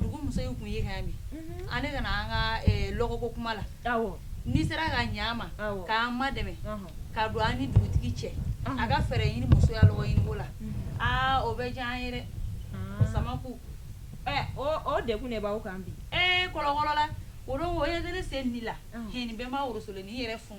Dugu muso in tun ye min ale kana an ka lɔgɔko kuma la n'i sera ka ɲɛ ma k'an madɛmɛ ka don an ni dugutigi cɛ a ka fɛɛrɛ ɲini muso ya lɔgɔ ɲini la aa o bɛ diya an yɛrɛ sama o degun b'aw kan bi ee kɔlɔnla o ye sen la h bɛɛ' worosolen ni yɛrɛ fun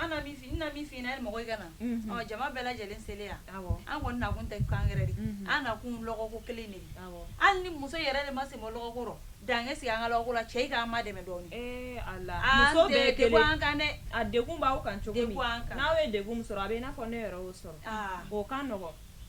An na min f'i ye, n na min f'i ɲɛna yani mɔgɔw ka na, unhun, ɔ jama bɛɛ lajɛlen selen yan, awɔ, an kɔni nakun tɛ ko wɛrɛ de ye, unhun, an nakun lɔgɔ ko kelen de ye, awɔ, hali ni muso yɛrɛ de ma sen bɔ lɔgɔ ko la, dan ka sigi an ka lɔgɔ ko la, cɛw k'an madɛmɛ dɔɔni, ee Ala, muso bɛɛ ye kelen ye, an tɛ degun an kan dɛ, a degun b'aw kan cogo di, degun b'an kan, n'aw ye degun min sɔrɔ a bɛ i n'a fɔ ne yɛrɛ y'o sɔrɔ, aa, o ka nɔgɔn.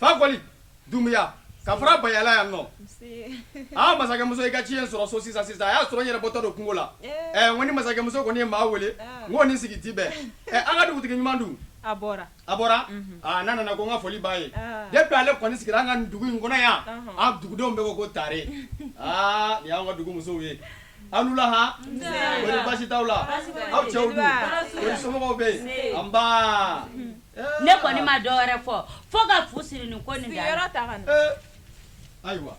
Fakoli dunya ka fara bayayala yan nɔ aa masakɛmuso i ka ci ye n sɔrɔ so sisan sisan a y'a sɔrɔ yɛrɛ bɔtɔ don kungo la ko ni masakɛmuso kɔni ye maa weele ko ni sigi tɛ bɛn an ka dugutigi ɲuman dun a bɔra a nana nana ko n ka foli ba ye ne bɛ ale kɔni sigira an ka dugu in kɔnɔ yan a dugudenw bɛɛ ko ko tare aa yan ka dugu musow ye an laha baasi t'a la aw cɛw somɔgɔw bɛ yen nba Ne kɔni ma dɔwɛrɛ fɔ fo ka fu siri ni ko nin ayiwa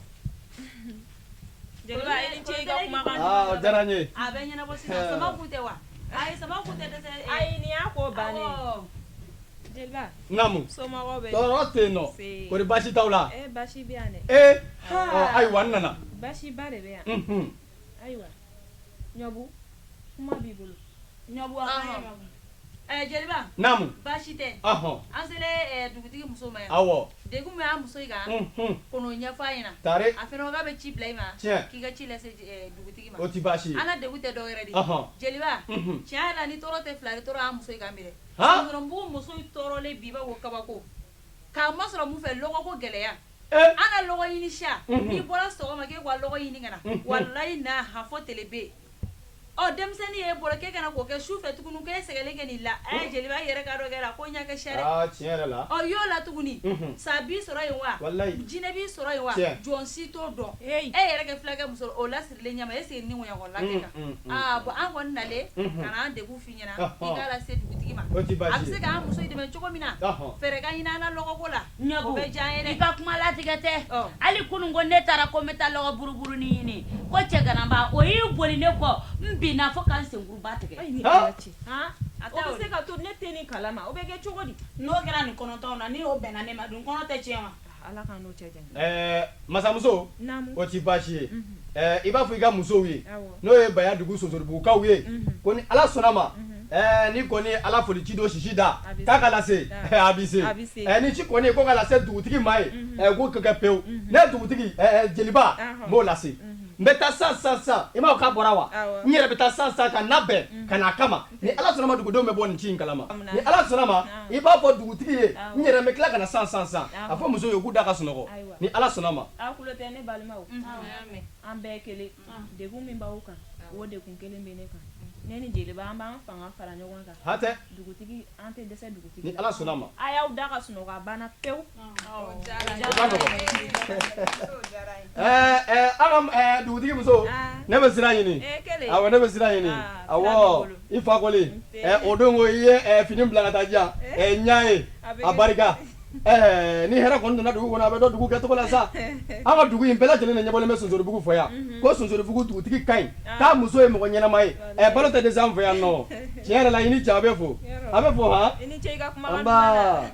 baasi t'a la ayiwa nana ayiwa ɲɔbu kuma b'i bolo ɲɔbu a kan ye ɲɔbu ɛɛ jeliba naamu baasi tɛ ɔhɔn an selen ɛɛ dugutigi muso ma yan awɔ degun min b'a muso in kan unhun k'o n'o ɲɛfɔ a ɲɛna tare a fɛnɛ ko k'a bɛ ci bila i ma tiɲɛ k'i ka ci lase ɛɛ dugutigi ma o tɛ baasi ye an ka degun tɛ dɔwɛrɛ de ye ɔhɔn jeliba unhun tiɲɛ yɛrɛ la ni tɔɔrɔ tɛ fila ye tɔɔrɔ y'an muso in kan bi dɛ han musokɔrɔbugu muso in tɔɔrɔlen bi b'a ko kabako k'a masɔrɔ mun fɛ lɔgɔko gɛlɛya An ka lɔgɔ ɲini sa n'i bɔra sɔgɔma k'e ka lɔgɔ ɲini ka na walayi na han fo tele bɛ yen ɔ denmisɛnnin y'e bolo k'e ka na ko kɛ su fɛ tuguni k'e sɛgɛnlen ka n'i la ɛ jeliba i yɛrɛ k'a dɔn kɛla ko ɲɛ ka siya dɛ aa tiɲɛ yɛrɛ la ɔ y'o la tuguni sa b'i sɔrɔ yen wa walayi jinɛ b'i sɔrɔ yen wa jɔn si t'o dɔn e yɛrɛ kɛ filakɛ muso o la ɲama e sigi ni ŋya la bɔn an kɔni nalen k'an degun f'i ɲɛna i k'a lase dugutigi ma a bɛ se k'an musow dɛmɛ cogo min na fɛɛrɛ ka ɲini an na lɔgɔko la bɛ diya yɛrɛ ka kuma latigɛ tɛ hali kunun ko ne taara ko n bɛ taa lɔgɔ buruburunin ɲini ko cɛganaba o ye boli ne kɔ n binna fo ka n senkuruba tigɛ a bɛ se ka to ne tɛ ni kala ma o bɛ kɛ cogo di n'o kɛra nin kɔnɔtɔn na n' bɛnna ne ma dun kɔnɔ tɛ cɛ ma Masamuso o tɛ baasi ye i b'a fɔ i ka musow ye n'o ye baya dugu sonsoribugukaw ye ko ni ala sɔnna ma ni kɔni ala foli ci don sisi da k'a ka lase a bɛ se ni ci kɔni ko ka dugutigi ma ye k'o ka kɛ pewu ne dugutigi jeliba b'o lase n bɛ taa sa sa sa i m ma ka bɔra wa n yɛrɛ bɛ taa sa sa ka na bɛn ka' a kama ni ala sɔnna ma dugudenw bɛ bɔ nin ci in kalama ni ala sɔnna ma i b'a fɔ dugutigi ye n yɛrɛ bɛ tila ka na san san san a fɔ musow ye k'u da ka sunɔgɔ ni ala sɔnna ma an bɛɛ kelen de min b'aw kan o de kun kelen bɛ ne kan ne ni jeli an b'an fanga fara ɲɔgɔn kan hatɛ dugutigi an tɛ dɛsɛ dugutigi ni ala sɔnna ma a y'aw da ka sunɔgɔ banna pewu dugutigi muso ne bɛ sira ɲini ne bɛ sira ɲini i fakɔli o don ko i ye fini bila ka taa ja ɲa ye a barika ni hɛrɛ kɔni nana dugu kɔnɔ a bɛ dɔn dugu kɛ tɔgɔ la sa aw ka dugu in bɛɛ lajɛlen ni ɲɛbɔlen bɛ sonsoribugu fɔ yan ko sonsoribugu dugutigi ka ɲi k'a muso ye mɔgɔ ɲɛnama ye ɛ balo tɛ dɛsɛ yan nɔ tiɲɛ yɛrɛ la i ni ja bɛ fo a bɛ fɔ h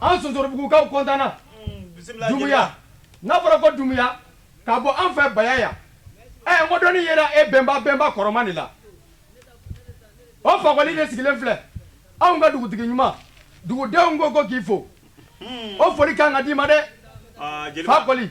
an sonsoribugukaw kɔntanna dunbiya n'a fɔra ko dunbiya k'a bɔ an fɛ baya yan ɛ mɔd yɛrɛ e bɛnba bɛnba kɔrɔma de la o fakɔli de sigilen filɛ anw ka dugutigi ɲuman dugudenw ko ko k'i fo o foli ka kan ka d'i ma dɛ fakɔli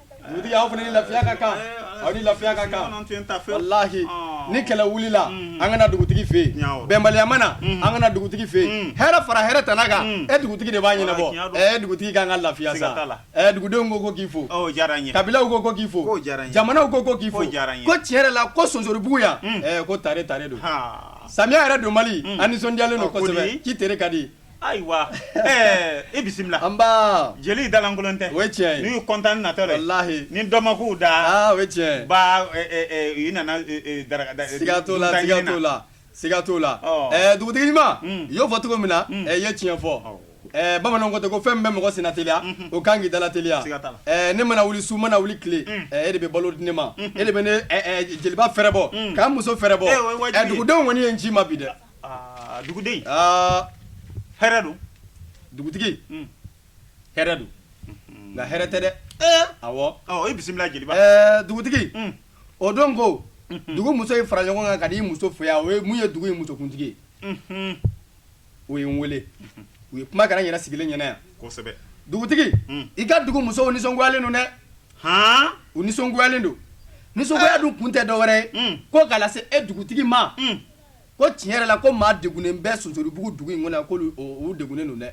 Dugutigi aw fana ni lafiya ka kan aw ni lafiya ka kan walahi ni kɛlɛ wulila an ka na dugutigi fɛ yen bɛnbaliya mana an ka na dugutigi fɛ yen hɛrɛ fara hɛrɛ tana kan e dugutigi de b'a ɲɛnabɔ ɛ dugutigi ka kan ka lafiya sa dugudenw ko ko k'i fo kabilalaw ko ko k'i fo jamanaw ko ko k'i fo ko tiɲɛ yɛrɛ la ko sonsoribugu yan ko tare tare don samiya yɛrɛ don mali a nisɔndiyalen don kosɛbɛ k'i tere ka di Ayiwa i bisimila anba jeli dalankolon tɛ cɛ n'u kɔntan natɔ layi ni dɔnmakuw da cɛ u nana dagaga t' la t' la siga t'o la dugutigi ɲuman i y'o fɔ cogo min na i ye tiɲɛ fɔ bamanan ko tɛ ko fɛn min bɛ mɔgɔ senna teliya o ka kan k'i dala teliya ne mana wuli su mana wuli tile e de bɛ balo di ne ma e de bɛ jeliba fɛrɛbɔ ka n muso fɛrɛbɔ dugudenw kɔni ye n ci i ma bi dɛ Aa duguden aa hɛrɛ don dugutigi hɛrɛ don nka hɛrɛ tɛ dɛ i bisimila jeliba dugutigi o don ko dugu muso in fara ɲɔgɔn kan ka di muso fo o ye mun ye dugu in musokuntigi u ye n weele u ye kuma kɛ a yɛrɛ sigilen ɲɛna yan kosɛbɛ dugutigi i ka dugu musow nisɔngoyalen don dɛ hɔn u nisɔngoyalen don nisɔngoya dun kun tɛ dɔwɛrɛ ye ko n k'a lase e dugutigi ma ko tiɲɛ yɛrɛ la ko maa degunnen bɛ sonsoribugu dugu in kɔnɔ ko u degunnen don dɛ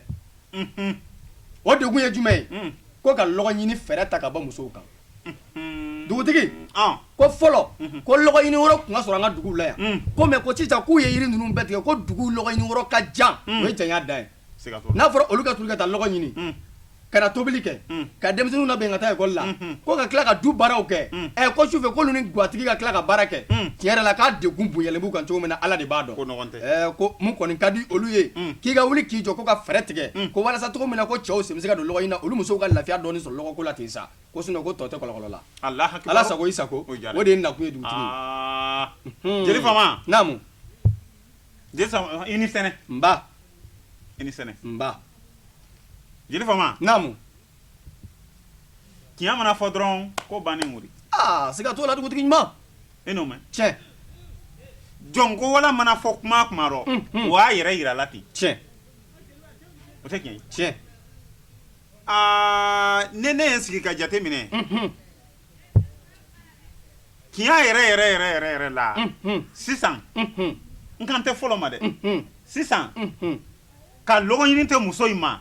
o degun ye jumɛn ye ko ka lɔgɔ ɲini fɛɛrɛ ta ka bɔ musow kan dugutigi ko fɔlɔ ko lɔgɔ ɲini yɔrɔ tun ka surun an ka dugu la yan ko mɛ ko sisan k'u ye yiri ninnu bɛɛ tigɛ ko dugu lɔgɔ ɲini yɔrɔ ka jan o ye janya dan ye n'a fɔra olu ka soli ka taa lɔgɔ ɲini ka na tobili kɛ ka denmisɛnnin labɛn ka taa ekɔli la ko ka tila ka du baaraw kɛ ɛ ko sufɛ k'olu ni gatigi ka tila ka baara kɛ tiɲɛ yɛrɛ la k'a degun bonyalen b'u kan cogo min na ala de b'a dɔn ko min kɔni ka di olu ye k'i ka wuli k'i jɔ ko ka fɛɛrɛ tigɛ ko walasa cogo min na ko cɛw sen bɛ se ka don lɔgɔ ɲini na olu musow ka lafiya dɔɔnin sɔrɔ lɔgɔ ko la ten sa ko ko tɔ tɛlɔnla ala sago i sago o de ye nakan ye dugu jeli Je sama uh, i ni sɛnɛ. Nba. I ni sɛnɛ. Nba. Jeli faama. Naamu. Tiɲɛ mana fɔ dɔrɔn ko bannen wuli. Aa siga t'o la dugutigi ɲuman. E n'o mɛn. Tiɲɛ. Jɔn ko Ala mana fɔ kuma o kuma rɔ. Mm, mm. O y'a yɛrɛ yira la ten. Tiɲɛ. O tɛ tiɲɛ ye. Tiɲɛ. Aa ne ne ye n sigi ka jate minɛ. Mm -hmm. tiɲɛ yɛrɛ yɛrɛ yɛrɛ yɛrɛ yɛrɛ la sisan n kan tɛ fɔlɔ ma dɛ sisan ka lɔgɔ ɲini tɛ muso in ma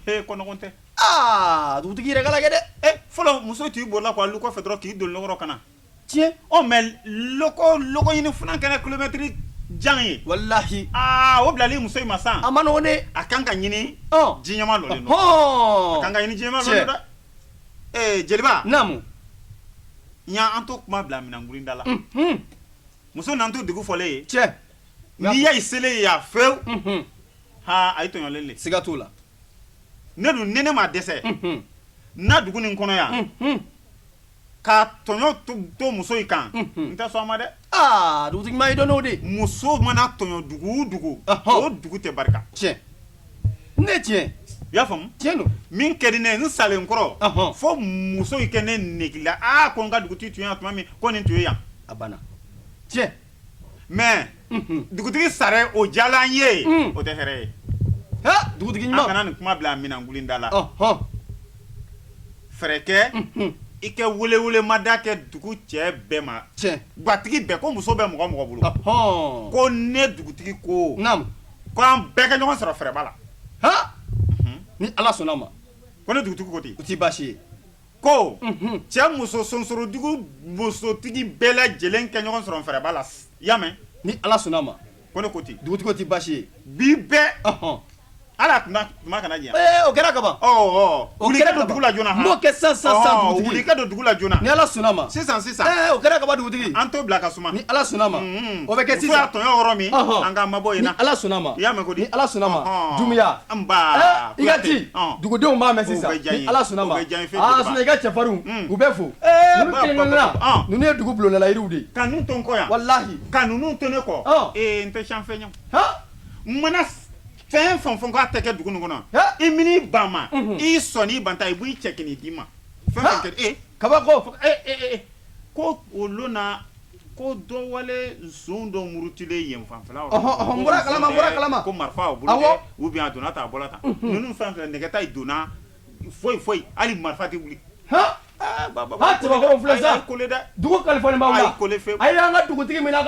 ee ko nɔgɔn tɛ aa dugutigi yɛrɛ k'a lajɛ dɛ e fɔlɔ muso tun y'i bolila k'a lu kɔfɛ dɔrɔn k'i don lɔgɔ rɔ ka na tiɲɛ ɔ mɛ lɔgɔ lɔgɔ ɲini fana kɛra kilomɛtiri jan ye walahi aa o bilali muso in ma sa a man nɔgɔn dɛ a kan ka ɲini ɔ ji ɲɛma dɔ de nɔ a kan ka ɲini ji ɲɛma dɔ de nɔ dɛ jeliba naamu n y' an to kuma bila minɛnankurunda la muso nan to dugu fɔlen ye cɛ n'i ya selen ye yan fɛwu aa ayi tɔɲɔlen de siga t'o la ne dun ni ne ma dɛsɛ n na dugu nin kɔnɔ yan ka tɔɲɔ to muso in kan n tɛ sɔn a ma dɛ aa dugutigi ɲuman i dɔn n'o de muso mana tɔɲɔ dugu o dugu o dugu tɛ barika tiɲɛ ne tiɲɛ i y'a faamu tiɲɛ don min ka di ne ye n salen kɔ rɔ fo muso in kɛ ne nege la aa ko n ka dugutigi tun yan tuma min ko nin tun ye yan a banna tiɲɛ mais dugutigi sara o diyala an ye, un, o tɛ hɛrɛ ye, han, dugutigi ɲuman, an kana nin kuma bila an minɛnkun da la, ɔhɔ, fɛɛrɛ kɛ i kɛ welewelemada kɛ dugu cɛ bɛɛ ma, tiɲɛ, gatigi bɛɛ ko muso bɛ mɔgɔ o mɔgɔ bolo, ɔhɔ, ko ne dugutigi ko, naamu, ko an bɛɛ ka ɲɔgɔn sɔrɔ fɛrɛba la, han, ni Ala sɔnn'a ma, ko ne dugutigi ko ten, o tɛ baasi ye ko cɛ muso sonsorodugu musotigi bɛɛ lajɛlen ka ɲɔgɔn sɔrɔ fɛrɛba la y'a mɛn ni ala sɔnna a ma ko ne ko ten dugu tɛ baasi ye bi bɛɛɔn ala tun kuma kana ɲɛ o kɛra ka ban don dugu la joonana kɛ sa sa don dugu la joonana ni ala sɔnna ma sisan sisan o kɛra ka ban dugutigi an to bila ka suma ni ala sɔnna ma o bɛ kɛ tɔn yɔrɔ min an ka mabɔ ala sɔnna ma y'a mɛn ko di ala sɔnna ma dunya I ka to dugudenw b'a mɛn sisan ala sun i ka cɛfarinw u bɛ fo ninnu ye dugu bulonlalayiw de ka kɔ walahi ka ninnu to ne kɔ n tɛ fɛn mana fɛn fɛn fɔ k'a tɛ kɛ dugu kɔnɔ i minɛ ba ma i sɔn i ban ta i b'i cɛ k d'i ma fɛn kaba ko ko olu na Ko dɔw wale dɔ murutilen yen fan kala a bɔra ta ninnu fan fɛ nɛgɛ tɛ don na foyi foyi hali marifa tɛ wuli dugu kalifa an ka dugutigi min ka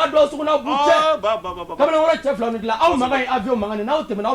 aw makan aw tɛmɛ aw